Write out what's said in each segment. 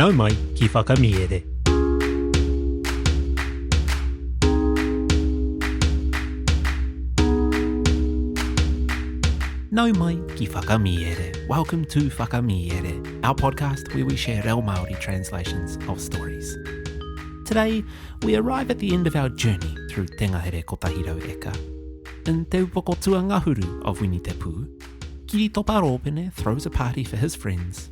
Nau mai ki Whakamiere. Nau mai ki Whakamiere. Welcome to Whakamiere, our podcast where we share reo Māori translations of stories. Today, we arrive at the end of our journey through Te Ngahere Kotahi Rau Eka. In Te Upoko Tuangahuru of Winitepū, Kiri Topa Rōpene throws a party for his friends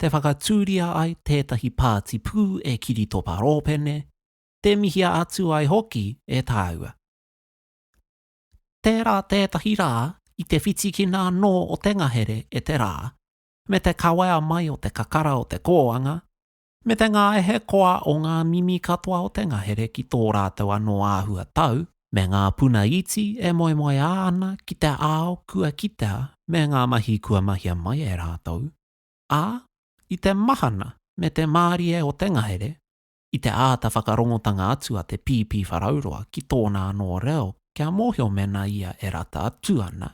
te whakatūria ai tētahi pāti pū e Kiritopa Rōpene, tē mihia atu ai hoki e tāua. Tērā tētahi rā i te whitikina anō o te ngahere e te rā, me te kawea mai o te kakara o te kōanga, me te ngāehe koa o ngā mimi katoa o te ngahere ki tō rātou anō āhua tau, me ngā puna iti e moemoeā ana ki te ao kua kitea me ngā mahi kua mahia mai e rātou, ā, i te mahana me te mārie o te ngahere, i te āta whakarongotanga atu a te Pīpīwharauroa ki tōna anō reo kia mōhio mēnā ia e rata atu ana,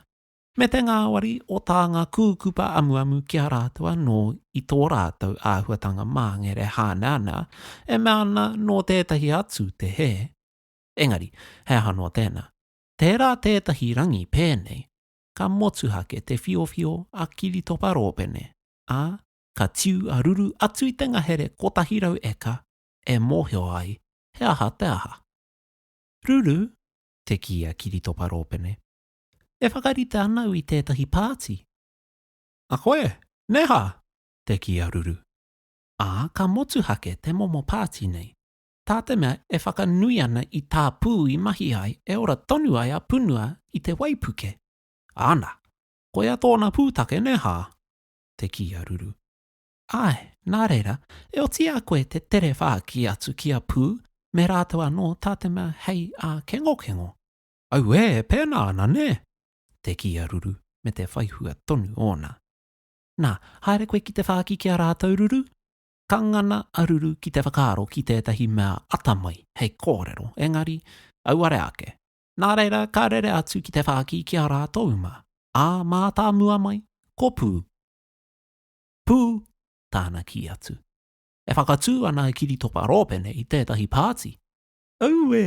me te ngāwari o tā ngā kūkupa amuamu ki a rātou anō i tō rātou āhuatanga māngere hāneanea e mea ana nō tētahi atu te hē. Engari, he aha noa tēnā? Tērā tētahi rangi pēnei, ka motuhake te whiowhio a Kiritopa Rōpene, ā, ka tiu a Ruru atu i te ngahere 100 eka e mōhio ai he aha te aha. Ruru, te kī a Kiritopa Rōpene, e whakarite ana au i tētahi pāti. A koe, neha! te kī a Ruru, ā, ka motuhake te momo pāti nei. tā te mea e whakanui ana i tā pū i mahi ai e ora tonu ai a Punua i te waipuke. Ana, koia tōna pūtake nē hā? te kī a Ruru. Āe, nā reira, e oti a koe te tere whāki atu ki a Pū me rātou anō tā te mea hei ākengokengo. Auē, e pēnā ana nē? te kī a Ruru me te whaihua tonu ōna. Nā, haere koe ki te whāki ki a rātou, Ruru? Ka ngana a Ruru ki te whakaaro ki tētahi mea atamai hei kōrero, engari, auare ake. Nā reira, ka rere atu ki te whāki ki a rātou mā, ā, mātāmua mai, ko Pū. Pū! tāna kī atu. E whakatū ana a Kiritopa Rōpene i tētahi pāti. Auē!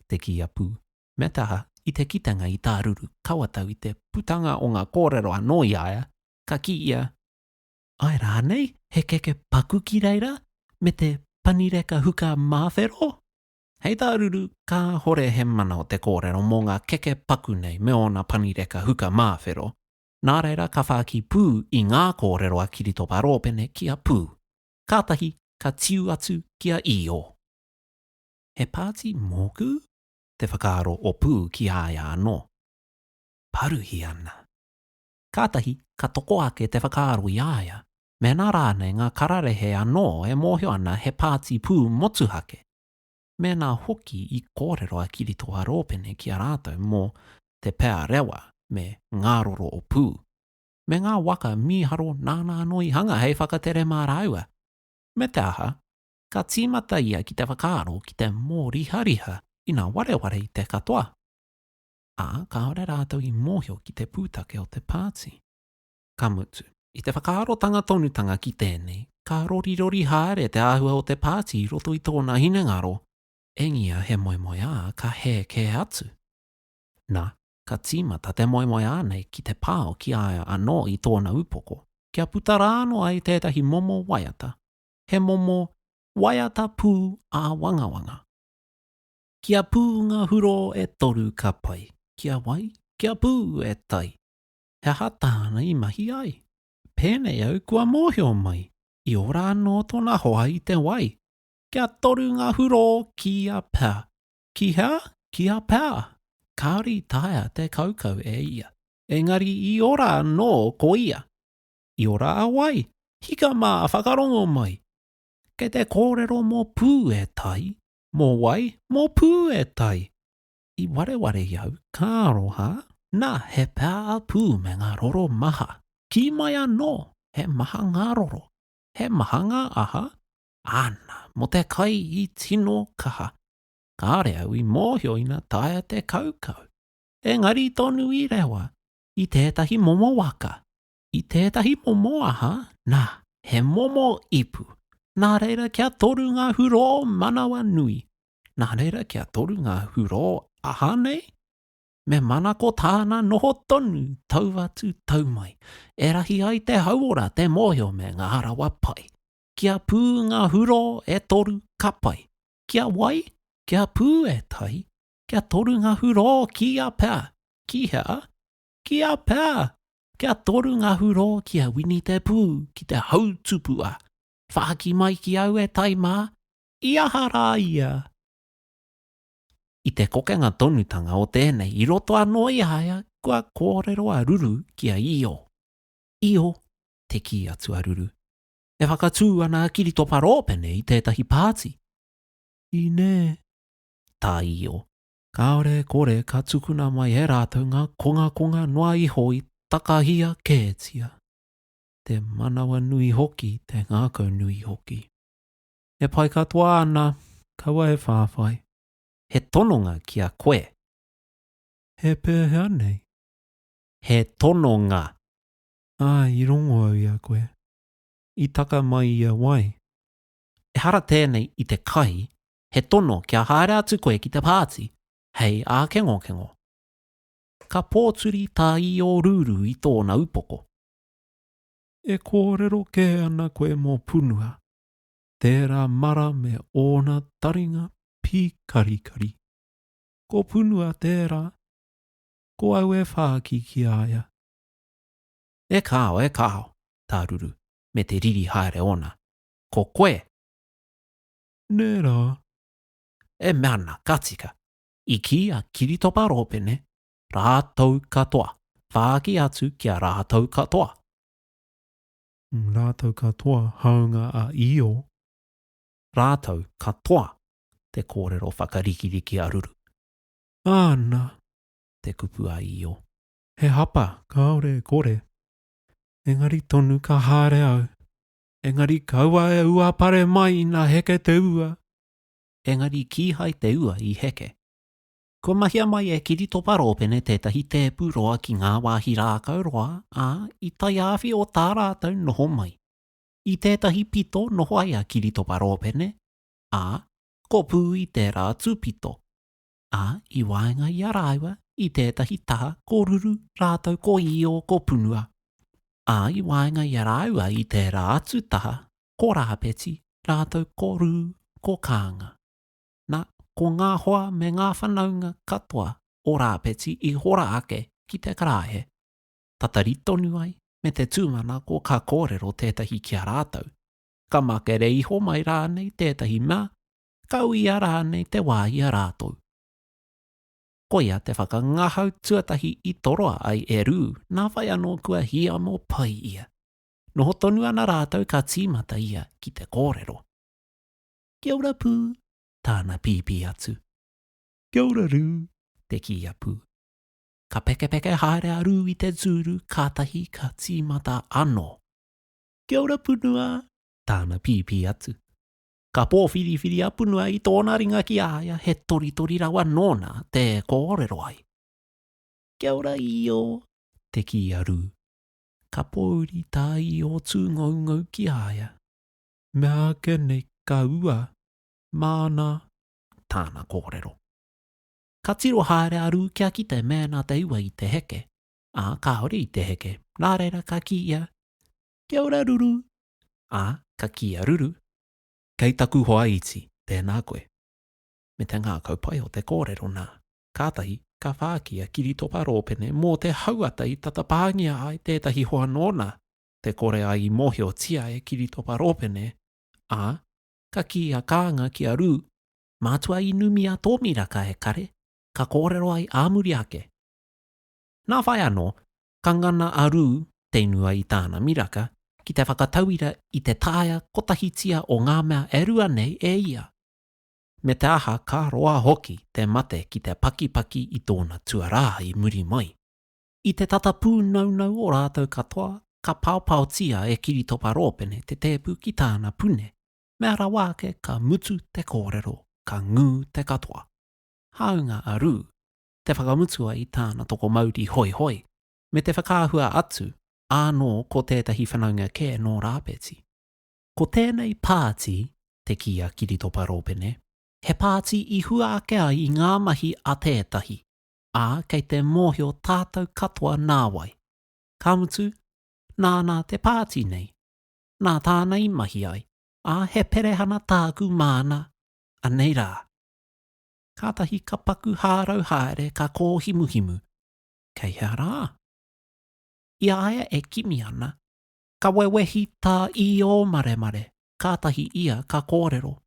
te kī a Pū. Me te aha, i te kitenga i tā Ruru kawatau i te putanga o ngā kōrero anō i a ia, ka kī ia, Ae rānei, he keke paku ki reira me te panireka huka māwhero? Hei tā Ruru, kāhore he mana o te kōrero mō ngā keke paku nei me ōna panireka huka māwhero, nā reira ka whāki pū i ngā kōrero a Kiritopa Rōpene ki a Pū. Kātahi ka tiu atu ki a Īo. He pāti mōku? te whakaaro o Pū ki a ia anō. Paruhi ana. kātahi ka toko ake te whakaaro i a ia mēnā rānei ngā kararehe anō e mōhio ana he pāti pū motuhake, mēnā hoki i kōrero a Kiritoa Rōpene ki a rātou mō Te Pea Rewa me Ngāroro o Pū, me ngā waka mīharo nāna anō i hanga hei whakatere mā rāua. Me te aha, ka tīmata ia ki te whakaaro ki te mōrihariha ina wareware i te katoa. ā, kāore rātou i mōhio ki te pūtake o te pāti. Ka mutu. I te whakaarotanga tonutanga ki tēnei, ka rorirori haere te āhua o te pāti i roto i tōna hinengaro, engia he moemoeā ka hē kē atu. Na, ka tīmata te moemoeā nei ki te pao ki a ia anō i tōna upoko, kia puta rānō ai tētahi momo waiata, he momo waiata pū āwangawanga. Ki a Pū ngā hurō e toru ka pai. Ki a wai? Ki a Pū, e tai. He aha tāna i mahi ai? Pēnei au kua mōhio mai, i ora anō tōna hoa i te wai. Kia toru ngā hurō ki a Pā. Ki hea? Ki a Pā. Kāore i taea te kaukau e ia. Engari i ora anō ko ia. I ora a wai? Hika mā, whakarongo mai. Kei te kōrero mō Pū, e tai. Mō wai? Mō pū e tai! I wareware i au, ka aroha. Nā, he pā pū me ngā roro maha. Kī mai anō, he maha ngā roro. He maha ngā aha? Āna, mō te kai i tino kaha. Kāore au i mōhio ina taea te kaukau. Engari tonu i rewa, i tētahi momo waka, i tētahi momo aha, nā, he momo ipu. Nā reira kia toru ngā hurō manawa nui. Nā reira kia toru ngā hurō aha nei? Me manako tāna noho tonu, tau atu, tau mai. E rahi ai te hauora, te mōhio me ngā rawa pai. Kia pū ngā hurō e toru, ka pai. Kia wai? Kia pū e tahi. Kia toru ngā hurō kīia pea, ki hea? Kia pea! Kia toru nga hurō ki a Wini te pū ki te hautupua. Whāki mai ki au e tai mā, i aha rā ia? I te kokenga tonutanga o tēnei i roto anō i a ia kua kōrero a Ruru ki a Io. Io, te kī atu a Ruru, e whakatū ana a Kiritopa Rōpene i tētahi pāti. Inē, tā Io, Kāore e kore ka tukuna mai e rātou ngā kongakonga noa iho i takahia kētia, te manawanui hoki, te ngākaunui hoki. E pai katoa ana, kaua e whāwhai. He tononga ki a koe. He pēhea nei? He tononga! Ā, i rongo au i a koe. I taka mai i a wai? Ehara tēnei i te kai, he tono kia haere atu koe ki te pāti hei ākengokengo. Ka pōturi tā Īōrūrū i tōna upoko. E kōrero kē ana koe mō Punua, tērā mara me ōna taringa pīkarikari. Ko Punua tērā, ko au e whāki ki a ia. E kāo, e kāo, tā Ruru, me te riri haere ōna. Ko koe! Nē rā. E mea ana, ka tika. I kī a Kiritopa Rōpene, Rātou katoa. Whāki atu ki a rātou katoa. Rātou katoa, hāunga a Io. Rātou katoa, te kōrero whakarikiriki a Ruru. Āna! te kupu a Io. He hapa, kāore e kore. Engari tonu ka haere au. Engari kaua e ua pare mai ina heke te ua. Engari kīhai te ua i heke. Kua mahia mai e Kiritopa Rōpene tētahi tēpu roa ki ngā wāhi rākau roa, ā, i taiāwhi o tā rātou noho mai. I tētahi pito noho ai a Kiritopa Rōpene, ā, kopū i tērā tūpito. ā, i waenga i a rāua i tētahi taha ko Ruru rātou ko Īo ko Punua, ā, i waenga i a rāua i tērā atu taha ko Rāpeti rātou ko Rū ko Kānga. Nā, ko ngā hoa me ngā whanaunga katoa o Rāpeti i hora ake ki te karaehe, tatari tonu ai me te tūmanako ka kōrero tētahi ki a rātou, ka makere iho mai rānei tētahi mea ka uia rānei te wā i a rātou. Koia te whakangahau tuatahi i toroa ai e Rū nā whai anō kua hiamo pai ia. Noho tonu ana rātou ka tīmata ia ki te kōrero. Kia ora Pū, tāna pīpī atu. Kia ora Rū, te kī a Pū. Ka pekepeke haere a Rū i te tūru kātahi ka tīmata anō. Kia ora Punua, tāna pīpī atu. Ka pōwhiriwhiri a Punua i tōna ringa ki a ia, he toritori rawa nōna te kōrero ai. Kia ora Io, te kī a Rū. Ka pōuri tā Io tūngoungou ki a ia. Mea ake nei ka ua, māna tāna kōrero. Ka tiro haere a Rū kia kite mēnā te ua i te heke, ā, kāore i te heke, nā reira ka kī ia, Kia ora Ruru! Ā, ka kī a Ruru, Kei taku hoa iti, tēnā koe. Me te ngākau pai o te kōrero nā, kātahi ka whāki a Kiritopa Rōpene mō te hauata i tata pāngia ai tētahi hoa nōna te kore ai i mōhiotia e Kiritopa Rōpene, ā, ka kī a Kānga ki a Rū, Mātua i numi a Tōmiraka e kare, ka kōrero ai ā muri ake. Nā whai anō, ka ngana a Rū te ingoa i tāna miraka ki te whakatauira i te taea kotahitia o ngā mea e rua nei e ia. Me te aha ka roa hoki te mate ki te pakipaki i tōna tuarā i muri mai. I te tata pūnaunau o rātou katoa ka paopaotia e Kiritopa Rōpene te tēpu ki tāna pune, mea rawa ake ka mutu te kōrero ka ngū te katoa. Hāunga a Rū, te whakamutua i tāna tokomauri hoihoi, me te whakaahua atu, ānō ko tētahi whanaunga kē nō Rāpeti. Ko tēnei pāti, te kī a Kiritopa Rōpene, he pāti i hua ake ai i ngā mahi a tētahi, ā, kei te mōhio tātou katoa nāwai. Ka mutu, nāna te pāti nei, nā tāna i mahi ai, ā, he perehana tāku māna, anei rā. Kātahi ka paku hārau haere ka kōhimuhimu, Kei hea rā? I a ia e kimi ana, ka wewehi tā Īōmaremare, kātahi ia ka kōrero,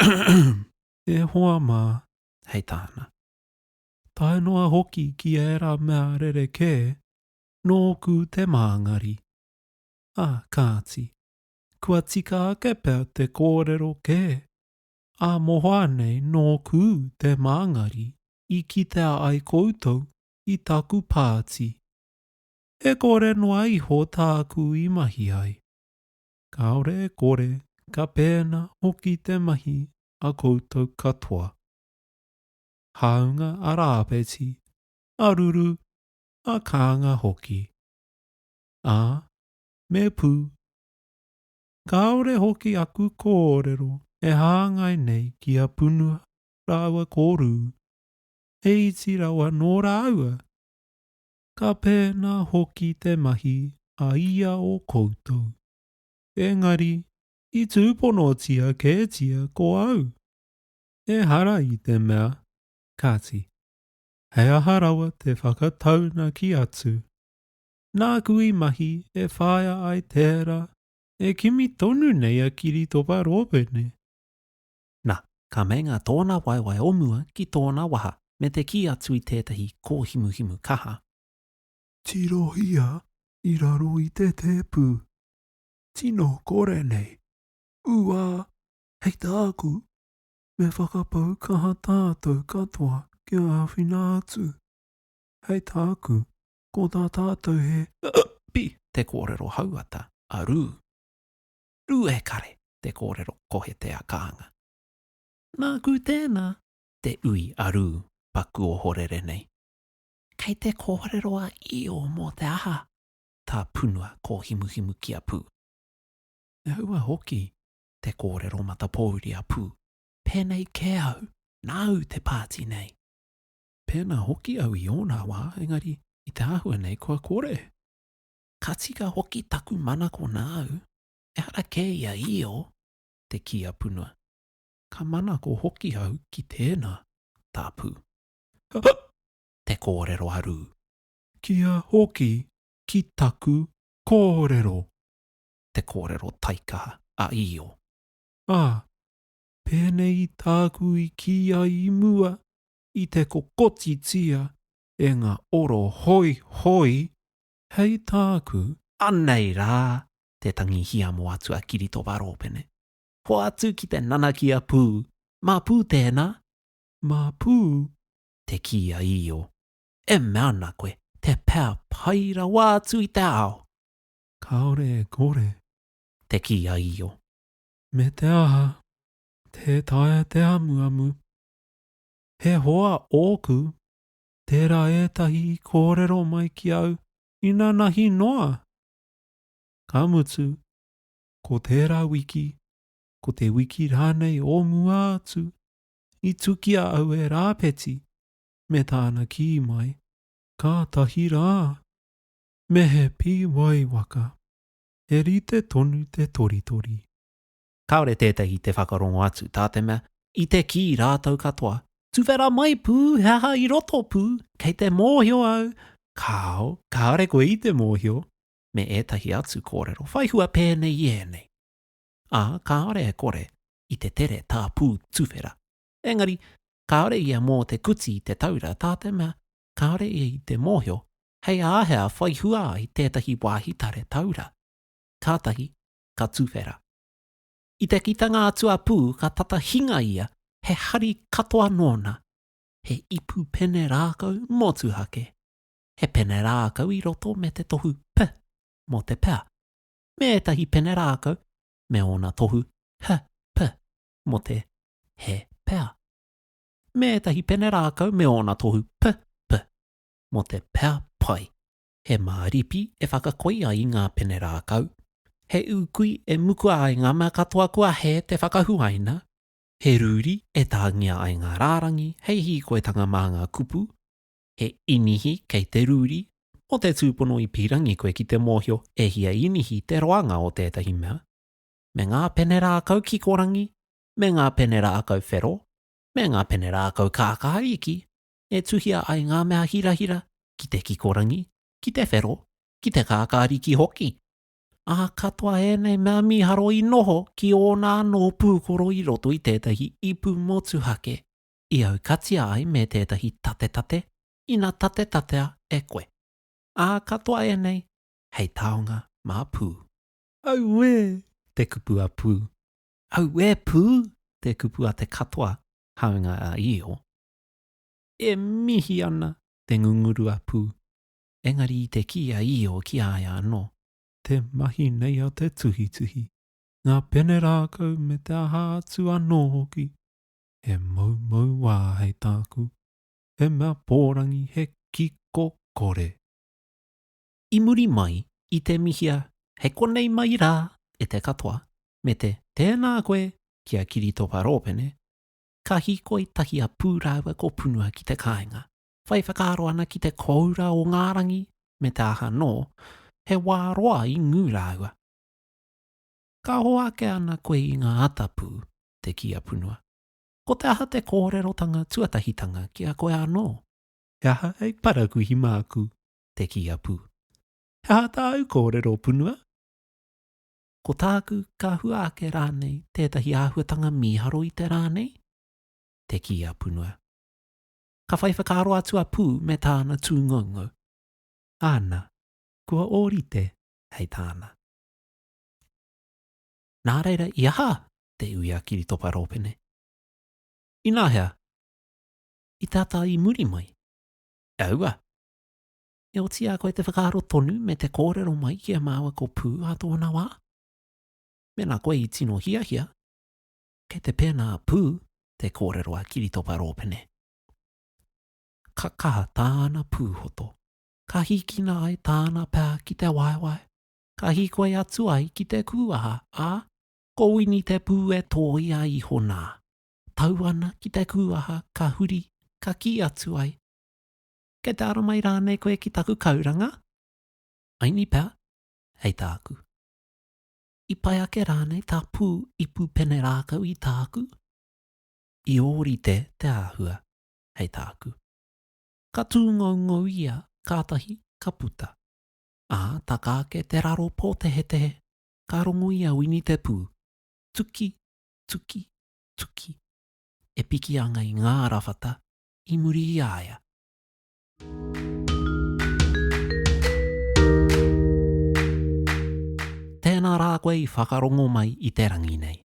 Ahem! E hoa mā, hei tāna. Tae noa hoki ki ērā mea rerekē, nōku te māngari. Ā kāti, kua tika ake pea te kōrero kē, Ā mohoa nei nōku te māngari i kitea ai koutou i taku pāti. E kore noa iho tāku i mahi ai. Kāore e kore ka pēnā hoki te mahi a koutou katoa. Hāunga a Rāpeti, a Ruru, a Kānga hoki. Ā, me pū. kāore hoki aku kōrero e hāngai nei ki a Punua rāua ko Rū, he iti rawa nō rāua. Ka pēnā hoki te mahi a ia o koutou. Engari, i tūponotia kētia ko au. Ehara i te mea, kāti, he aha rawa te whakataunaki atu Nāku i mahi e whāia ai tērā e kimi tonu nei a Kiritopa Rōpene. Na, ka meinga tōna waewae o mua ki tōna waha me te kī atu i tētahi kōhimuhimu kaha. Tirohia i raro i te tēpu. Tino kore nei. Uā! Hei tāku, me whakapau kaha tātou katoa kia āwhina atu. Hei tāku, Ko tā tātou he. Pi, te kōrero hauata a Rū. Rū e kare, te kōrero kohete a Kānga. Nāku tēnā, te ui a Rū, paku ohorere nei. Kei te kōrero a Io mō te aha tā punua kōhimuhimu ki a Pū. Me houa hoki te kōrero matapōuri a Pū. Pēnei kē au, nāu te pāti nei. Pēnā hoki au i ōna wā, engari, i te āhua nei kua kore. Ka tika hoki taku manako nāu, ehara kē i a Io te kī a Punua. Ka manako hoki au ki tēnā, tā Pū. Hup! Te kōrero a Rū. Kia hoki ki taku kōrero! Te kōrero taikaha a Io. Ā, pēnei i tāku i kī ai i mua, i te kokotitia e ngā oro hoihoi hei tāku. Anei rā te tangi hiamo atu a Kiritopa Rōpene. Hoatu ki te nanakia pū. Mā Pū tēnā? Mā Pū, te kī a Io. E mea ana koe, te pea pai rawa atu i te ao. Kāore e kore. Te kī a Io. Me te aha, tē taea te amuamu. He hoa ōku, tērā ētahi i kōrero mai ki au inanahi noa. Ka mutu, ko tērā wiki, ko te wiki rānei o mua atu, i tukia au e Rāpeti me tāna kī mai, Kātahi rā, me he pīwai waka, he rite tonu te toritori. kāore tētahi te whakarongo atu, tā te mea, i te kī rātou katoa, Tuwhera mai pū he aha i roto pū, kei te mōhio au, kāo, kāore koe i te mōhio, me ētahi atu kōrero whai hua pēnei i ēnei. Ā, kāore e kore i te tere tā pū tuwhera. Engari, kāore ia mō te kuti i te taura, tā te mea, kāore ia i te mōhio hei āhea whai hua ai tētahi wāhi tare taura. Kātahi, ka tuwhera. I te kitanga atu a Pū ka tata hinga ia he hari katoa nōna, he ipu pene rākau motuhake, he pene rākau i roto me te tohu p mō te pea, me ētahi pene rākau me ōna tohu h p mō te he pea, me ētahi pene rākau me ōna tohu p p mō te pea pai. He māripi e whakakoi ai ngā pene rākau, he ūkui e mukua ai ngā mea katoa kua hē te whakahuaina, he rūri e tāngia ai ngā rārangi hei hīkoitanga mā ngā kupu, he inihi kei te rūri, mō te tūpono i pīrangi koe ki te mōhio e hia inihi te roanga o tētahi mea, me ngā pene rākau kikorangi, me ngā pene rākau whero, me ngā pene rākau kākāriki, e tuhia ai ngā mea hirahira ki te kikorangi, ki te whero, ki te kākāriki hoki. Ā, katoa ēnei mea mīharo i noho ki ōna anō pūkoro i roto i tētahi ipu motuhake i aukatia ai me tētahi tatetate ina tatetatea e koe. Ā, katoa ēnei hei taonga mā Pū. Auē! te kupu a Pū. Auē Pū! te kupu a te katoa, hāunga a Io. E mihi ana te ngungurua pū. Engari i te kī a Io ki a ia anō. Te mahi nei a te tuhituhi, ngā pene rākau me te aha atu anō hoki, he moumou wā hei tāku, he mea pōrangi he kiko kore. I muri mai i te mihia he konei mai rā e te katoa me te tēnā koe ki a Kiritopa Rōpene, ka hīkoi tahi a Pū rāua ko Punua ki te kāinga. Whai whakaaro ana ki te kōura o ngā rangi, me te aha anō, he wā roa i ngū rāua. Ka hoake ana koe i ngā ata, Pū, te kī a Punua. Ko te aha te kōrerotanga tuatahitanga ki a koe anō? He aha hei parakuihi māku? te kī a Pū. He aha tāu kōrero, Punua? Ko tāku, ka hua ake rānei tētahi āhuatanga mīharo i te rā nei? te kī a Punua. Ka whai whakaaro atu a Pū me tāna tūngoungou. Āna, kua ōrite hei tāna. Nā reira, i aha? te ui a Kiritopa Rōpene. Ināhea? I te ata i muri mai? E aua. E oti a koe te whakaaro tonu me te kōrero mai ki a māua ko Pū ā tōna wā? Mēnā koe i tino hiahia, kei te pēnā pū te kōrero a Kiritopa Rōpene. Ka kaha tāna pūhoto, ka hīkina ai tāna pā ki te waewae, ka hīkoi atu ai ki te kūaha, ā, ko Wini te pū e tōia iho nā. Tau ana ki te kūaha ka huri, ka kī atu ai, Kei te aro mai rānei koe ki taku kauranga? Aini pea, hei tāku. I pai ake rānei tā pū ipu pene rākau i tāku? I ōrite te āhua, hei tāku. Ka tūngoungou ia, kātahi ka puta. Ā, taka ake te raro pōtehetehe, ka rongo i a Wini te pū. Tuki, tuki, tuki. E piki ana i ngā rawhata, i muri i a ia. Tēnā rā koe i whakarongo mai i te rangi nei.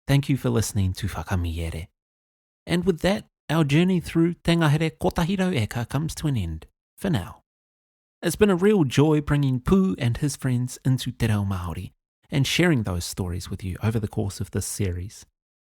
Thank you for listening to Whakamīere. And with that, our journey through Te Ngahere 100 eka comes to an end, for now. It's been a real joy bringing Pooh and his friends into Te Reo Māori and sharing those stories with you over the course of this series.